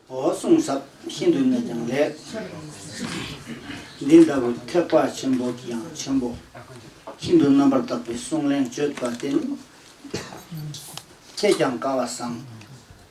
གསུང་ཟབ་ཤིན་ཏུ་ནས་ཀྱང་ལེགས། འདི་ལྟ་བུ་ཐེག་པ་ཆེན་པོ་གི་ཡང་ཆེན་པོ་ཤིན་ཏུ་རྣམ་པར་དག་པའི་གསུང་གླེང་བརྗོད་པ་འདི་ནི་ཁྱེད་ཀྱང་དགའ་བ་བཟང།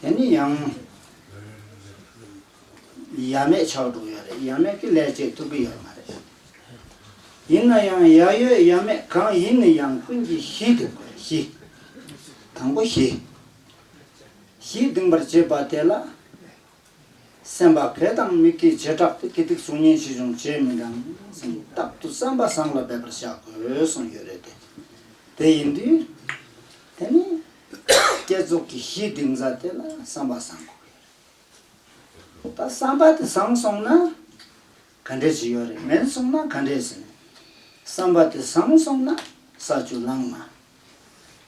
དེ་ནི་ཡང་ཡ་མེད་ཆགས་འགྲོ་ཡོད་རེད་ཡ་མེད་ཀྱི་ལས་བྱེད་ཐུབ་ཀྱི་ཡོད་མ་རེད། ཡིན་ན་ཡང་ཡ་ཡོད་ཡ་མེད་གང་ཡིན་ནི་ཡང་ཀུན་གྱི་གཞི་དགོས་པ་རེད་གཞི། དང་པོ་གཞི། གཞི་འདིང་པར་བྱེད་པ་དེ་ལ། སེམས་པ་བས་དང་མིག་གིས་བྱེ་བྲག་ཏུ་དགེ་སྡིག་གཟུགས་བརྙན་ཅི་བྱུང་བརྗེད་མི་འབྲང། རྟག་ཏུ་བསམ་པ་བཟང་ལ་འབད་པར་བྱ་དགོས་གསུངས་ཡོད་རེད་དེ། དེ་ཡིན་དུས། དེ་ནི། བསྐྱེད་རྫོགས་ཀྱི་གཞི་འདིང་ས་དེ་ལ་བསམ་པ་བཟང་དགོས་ཀྱི་རེད། ད་བསམ་པ་དེ་བཟང་སོང་ན། ག་འདྲས་ཅི་ཡོད་རེད་མེད་སོང་ན་ག་འདྲས་ཟིན། བསམ་པ་དེ་བཟང་སོང་ན་ས་བཅུ་ལངས་མ།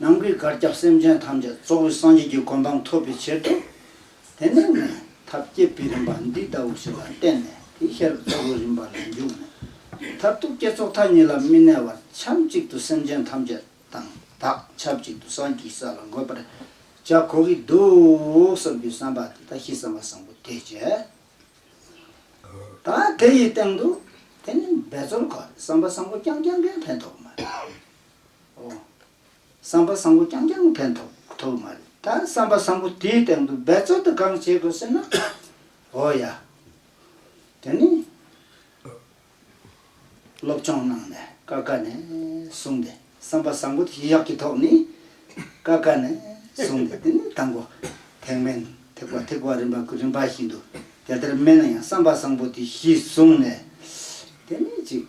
ནང་གི་གར་སྐྱབས་སེམས་ཅན་ཐམས་ཅད་གཙོ་བོའི་སངས་རྒྱས་ཀྱི་གོ་འཕང་ཐོབ་པའི་ཕྱིར་དུ། དེ་ནས་ནི་ཐབས་བསྐྱེད་པའི་རིམ་པ་འདི་ལྟ་བུ་ཞིག་ལ་བརྟེན་ནས་དེའི་ཤེས་རབ་གཙོ་བོའི་རིམ་པ་ལ་འཇུག་ནས། མཐར་ཐུག་བསྐྱེད་རྫོགས་མཐའ་གཉིས་ལ་མི་གནས་བར་ཕྱམ་གཅིག་ཏུ་སེམས་ཅན་ཐམས་ཅད་དང་བདག་ཆབས་གཅིག་ཏུ་སངས་ཀྱི་ས་ལ་འགོད་པར་བྱ་གོ་གི་འདུག་བསམ་རྒྱུའི་བསམ་པ་དེ་དག་གཤིས་བསམ་པ་བཟང་པོ་དེས་བྱས། ད་དེ་ཡི་སྟེང་དུ་དེ་ནི་འབད་རྩོལ་གོ་བསམ་པ་བཟང་པོ་རྐྱང་རྐྱང་གིས་ཕན་ཐོགས་མ་རེད། ཨོ། བསམ་པ་བཟང་པོ་རྐྱང་རྐྱང་ཕན་ཐོགས་ཐུབ་མ་རེད། ད་བསམ་པ་བཟང་པོ་དེའི་སྟེང་དུ་འབད་རྩོལ་དུ་གང་བྱེད་དགོས་ཟེར་ན། ཨོ་ཡ། དེ་ནི། སློབ་སྦྱོང་གནང་ནས་ཀ་ཀ་ནས་བཟུང་སྟེ་བསམ་པ་བཟང་པོ་དེ་ཞི་ཡག་གི་ཐོག་ནས་ཀ་ཀ་ནས་བཟུང་སྟེ་དེ་ནི་དང་པོ་ཐེག་དམན་ཐེག་པ་ཐེག་པ་རིམ་པ་རིམ་པ་བཞིན་དུ་དེ་ལྟར་སྨད་ན་ཡང་བསམ་པ་བཟང་པོ་དེ་ཞི་བཟུང་ནས་དེ་ནི་ཅིག།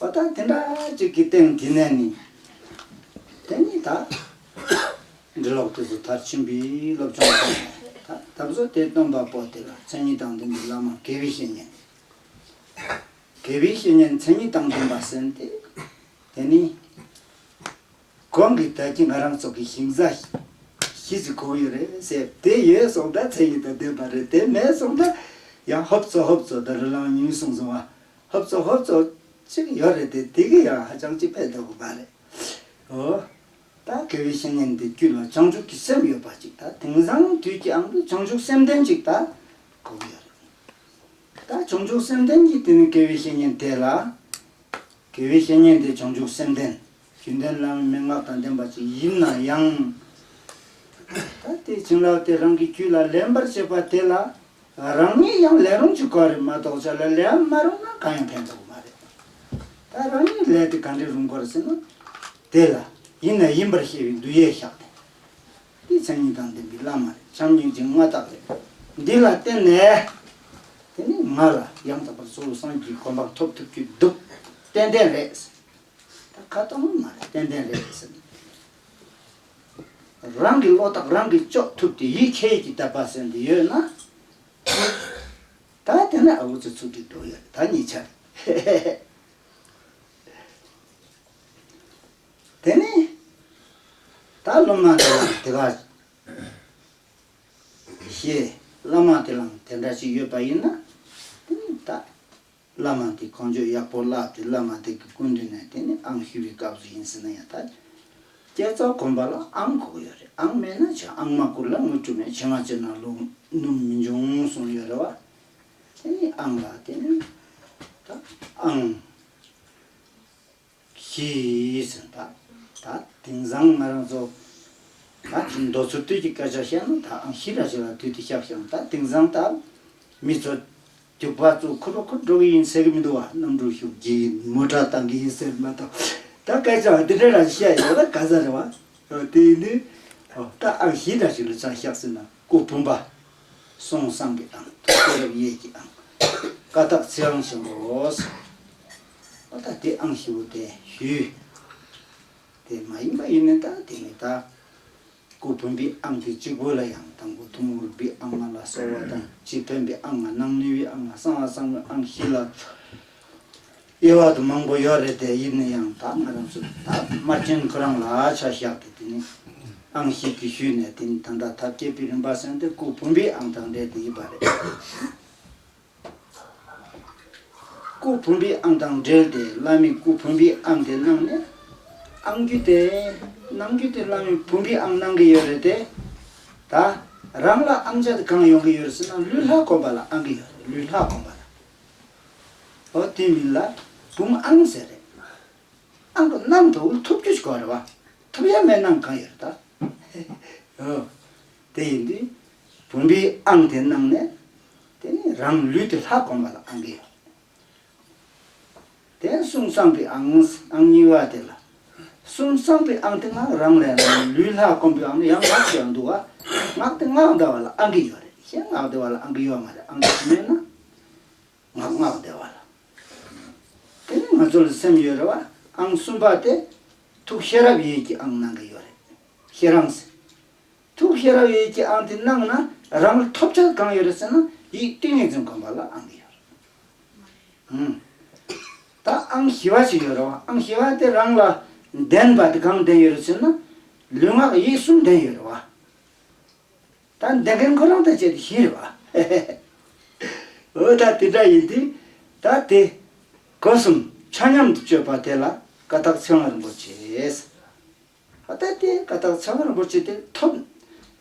བ་དང་དེ་འདྲ་ཅིག་གི་སྟེང་དེ་ནས་ནི། དེ་ནི་ད། འབྲི་ཀློག་དུས་སུ་མཐར་ཕྱིན་པའི་སློབ་སྦྱོང་སྤྲོད་པ་ལས། ད་བཟོད་དེ་སྟོན་པ་པོ་དེ་ལ་མཚན་ཉིད་དང་ལྡན་པའི་བླ་མ་དགེ་བའི་བཤེས་གཉེན། དགེ་བའི་བཤེས་གཉེན་མཚན་ཉིད་དང་ལྡན་པ་ཟེར་ཏེ། དེ་ནི། གང་གི་དལ་གྱིས་ང་རང་སོགས་ཀྱི་ཞིང་བཟའ། ཞིས་ཀྱི་གོ་ཡོད་རེད་ཟེར་དེ་ཡོད་སོང་ད་མཚན་ཉིད་དང་ལྡན་པ་རེད་དེ་མེད་སོང་ད། ཡང་ཧོབ་ཙོ་ཧོབ་ཙོ་ད་རི་ལང་ཉུལ་སོང་སོང་བ། ཧོབ་ཙོ་ཧོབ་ཙོ་ཅིག་ཡོད་རེད་དེ་དེ་གི་ཡང་ཧ་ཅང་ཅིག་ཕལ་འདོད་གོ་མ་རེད། ཨོ། ད་དགེ་བའི་བཤེས་གཉེན་འདི་དཀྱུས་ལ་བྱང་ཆུབ་ཀྱི་སེམས་ཡོད་པ་ཅིག་ད་དེང་སང་དུས་ཀྱི་ཨང་དུ་བྱང་ཆུབ་སེམས་ལྡན་ཅིག་ད་གོ་གི་ཡོད་རེད། ད་བྱང་ཆུབ་སེམས་ལྡན་གྱི་དེ་ནི་དགེ་བའི་བཤེས་གཉེན་དེ་ལ། དགེ་བའི་བཤེས་གཉེན་དེ་བྱང་ཆུབ་སེམས་ལྡན། རྒྱུན་ལྡན་བླ་མའི་མན་ངག་དང་ལྡན་པ་ཅིག་ཡིན་ན་ཡང། ད་ལྟའི་བྱིན་རླབས་དེ་རང་གི་རྒྱུད་ལ་ལེན་པར་བྱེད་པ་དེ་ལ་རང་ཉིད་ཡང་ལེན་རུང་གཅིག་ག་རེ་མ་གཏོགས་ཅག་ལ་ལེན་མ་རུང་ན་གང་ཡང་ཕན་ཐོགས་མ་རེད། ད་རང་ཉིད་ལས་དེ་ག་འདྲའི་རུང་གོ་རེ་ཟེར་ན། དེ་ལ་ཡིན་ན་ཡིན་པར་ཤེས་པའི་འདུ་ཡེ་བཞག་སྟེ། འདི་བྱམས་སྙིང་དང་ལྡན་པའི་བླ་མ་རེད་བྱམས་སྙིང་རྗེ་མངའ་བདག་རེད། འདི་ལ་བརྟེན་ནས། དེ་ནས་ང་ལ་ཡང་དག་པར་གཙོ་བོ་སངས་རྒྱས་ཀྱི་གོ་འཕང་ཐོབ་ཐུབ་ཀྱི་འདུག་ཏན་ཏན་རེད། ད་ག་ཏོ་མ་མ་རེད་ཏན་ཏན་རེད་ཟེར། རང་གི་བློ་རྟགས་རང་གིས་གཅོག་ཐུབ་དེ་ཡིད་ཁྱེད་ཀྱིས་བལྟ་བ་ཟེར་འདི་ཡོད་ན། ད་དེ་ན་ཨ་བུ་ཚོ་ཚུར་འདུས་འགྲོ་ཡོད་རེད་ད་གཉིས་ཆ་རེད། དེ་ནས་ད་སློབ་མ་དེ་ལའང་དེ་ག་ཞེས་བླ་མ་དེ་ལའང་དེ་འདྲ་ཞིག་ཡོད་པ་ཡིན་ན་དེ་ནས་ད། བླ་མ་དེ་གོང་བརྗོད་ཡག་པོ་བཀླགས་ཏེ་བླ་མ་དེ་གི་སྐུ་མདུན་ནས་དེ་ནི་ཨང་ཞུ་བའི་སྐབས་སུ་ཡིན་ཟེར་ན་ཡག་ཐལ། བསྐྱེད་རྫོགས་དགོན་པ་ལ་ཨང་གོ་གི་ཡོད་རེད་ཨང་མེད་ན་བྱ་ཨང་མ་བསྐུར་ལ་དངུལ་སྤྲོད་མེད་བྱེད་ང་ཚོའི་ནང་ལུགས་སྣུམ་མི་འབྱུང་གསུངས་ཡོད་རེད་བ། དེ་ནི་ཨང་ལ་དེ་ནི་ད་ཨང། གྱིས། ད་དེང་སང་ང་རང་ཚོ། ད་མདོ་ཚུར་སྟོད་ཀྱི་སྐད་ཆ་བཤད་ན་ད་ཨང་ཤི་ར་ཤི་ར་དུས་དེ་ཤག་ཤག་ད་དེང་སང་ད། མི་ཚོ། རྒྱུག་པ་ཚོ་ཁུར་རོ་ཁུར་འགྲོ་གི་ཡིན་ཟེར་གི་མི་འདུག་བ་གནམ་གྲུ་ཤུགས་ཀྱིས་མུ་དྲག་བཏང་གི་ཡིན་ཟེར་མ་གཏོགས། ད་སྐད་ཆའང་དེ་འདྲ་རང་བཤད་ཡོད་ན་ག་ས་རེད་བ། དེ་ནི། ད་ཨང་ཤི་ར་ཤི་ར་ཆག་ཤག་ཟེར་ན་སྐུ་བུམ་པ། སོང་བསང་གི་ཨང་དུ་སྐྱེས་རབས་གཡས་ཀྱི་ཨང། ཀ་དག་ཚིག་ཨང་བྱེད་འགོ། ཨོ་ད་དེ་ཨང་ཞེ་བོ་དེ་ཞུས། དེ་མ་ཡིན་པ་ཡིན་ནི་ད་དེ་མི་དག་གོ། བུམ་པའི་ཨང་དེ་གཅིག་པོ་ལ་ཡང་དང་པོ་ཐུན་མོང་རིག་པའི་ཨང་ལྔ་ལ་གསོ་བ་དང་སྤྱི་ཕན་པའི་ཨང་ལྔ་སྣང་ནུས་པའི་ཨང་ལྔ་གསང་བ་གསང་བའི་ཨང་བཞི་ལ་དབྱེ་བ་དུ་མང་པོ་ཡོད་རེད་དེ་ཡིན་ནི་ཡང་དག་ང་རང་ཚོས་ད་དམར་རྗེན་ཁོ་རང་ལ་ཆ་བཞག་སྟེ་དེ་ནི་ཨང་བཞི་གི་ཞུས་ནས་དེ་ནི་ད་ལྟ་ཐབས་མཁས་པའི་རིམ་པ་གསན་ཏེ་སྐུ་བུམ་པའི་ཨང་དང་འབྲེལ་དེ་ཡིན་པ་རེད། སྐུ་བུམ་པའི་ཨང་དང་འབྲེལ་ཏེ་བླ་མའི་སྐུ་བུམ་པའི་ཨང་དེ་གནང་ནས། ཨང་རྒྱུད་དེ་གནང་རྒྱུ་དེ་བླ་མའི་བུམ་པའི་ཨང་གནང་གི་ཡོད་རེད་དེ། ད་རང་ལ་ཨང་ཆ་དེ་གང་ཡོང་གི་ཡོད་རེད་ཟེར་ན་ལུས་ལྷག་གོན་པ་ལ་ཨང་གི་ཡོད་རེད་ལུས་ལྷག་གོན་པ་ལ། ཨོ་དེའི་མིང་ལ་བུམ་ཨང་ཟེར་རེད། ཨང་དུ་གནང་དུ་ཐུབ་རྒྱུ་ཞིག་གོ་རེད་བ། ཐུབ་ཡ་མེད་གནང་གང་ཡོད་རེད་ད། ཧེ་ཧེ་ཨོ། དེ་ཡིན་དུས། བུམ་པའི་ཨང་དེ་གནང་ནས། དེ་ནས་རང་ལུས་དེ་ལྷ་བསྒོམ་པ་ལ་ཨང་གི། དེ་གསུམ་གསང་པའི་ཨང་ཨང་གཉིས་པ་དེ་ལ། གསུམ་གསང་པའི་ཨང་དེ་སྔགས་རང་ལས་རང་ལུས་ལྷ་བསྒོམ་པའི་ཨང་ནི་ཡང་སྔགས་ཀྱང་འདུག་ཨ། སྔགས་དེ་སྔགས་བཟླ་བ་ལ་ཨང་གི་ཡོད་རེད་གཞན་སྔགས་བཟླ་བ་ལ་ཨང་གི་ཡོད་མ་རེད་ཨང་གི་མེད་ན། ངག་སྔགས་བཟླ་བ་ལ། དེ་ནས་ང་ཚོ་ལ་སེམས་ཡོད་རེད་བ་ཨང་གསུམ་པ་དེ། ཐུགས་ཤེས་རབ་ཡིད་ཀྱི་ཨང་གནང་གི་ཡོད་རེད། ཤེས་རང་སེམས། ཐུགས་ཤེས་རབ་ཡོད་ཀྱི་ཨང་དེ་གནང་ན་རང་ལ་ཐོབ་བྱ་གང་ཡོད་རེད་ཟེར་ན་ཡིད་ཏིང་ངེ་འཛིན་གོམས་པ་ལ་ཨང་དེ་ཡོད་རེད། ད་ཨང་ཞི་བ་ཞིག་ཡོད་རེད་བ་ཨང་ཞི་བ་དེ་རང་ལ་ལྡན་པ་དེ་གང་ལྡན་ཡོད་རེད་ཟེར་ན་ལུས་ངག་ཡིད་གསུམ་ལྡན་ཡོད་རེད་བ། ད་ལྡན་མཁན་ཁོ་རང་དང་བཅས་ཏེ་བཞིན་རེད་བ། འོ་ད་དེ་འདྲ་ཡིན་དུས་ད་དེ་གོ་གསུམ་ཆ་མཉམ་དུ་སྤྱོད་པ་དེ་ལ་ཀ་དག་ཚེ་དབང་རིན་པོ་ཆེས། ད་ལྟ་དེ་ཀ་དག་ཚ་བ་རིན་པོ་ཆེ་དེ་ཐོབ།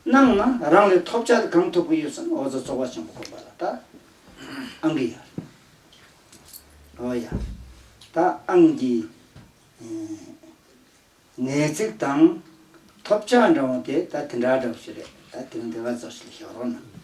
གནང་ན་རང་ལས་ཐོབ་ཆ་དེ་གང་ཐོབ་ཀྱི་ཡོད་བསམ་ཨོ་རྩལ་རྫོགས་པ་ཆེན་པོ་དགོངས་པ་ལ་ད་ཨང་གི་ཡར་ཨོ་ཡ་ད་ཨང་གི་ངའི་ཚིག་དང་ཐོབ་ཆ་འདྲ་འོང་དེ་ད་དེ་འདྲ་འདྲ་བོ་ཞིག་རེད་ད་དེ་རིང་དེ་ཀ་རྫོགས་ཞིག་ལ་བཞག་རོགས་གནང།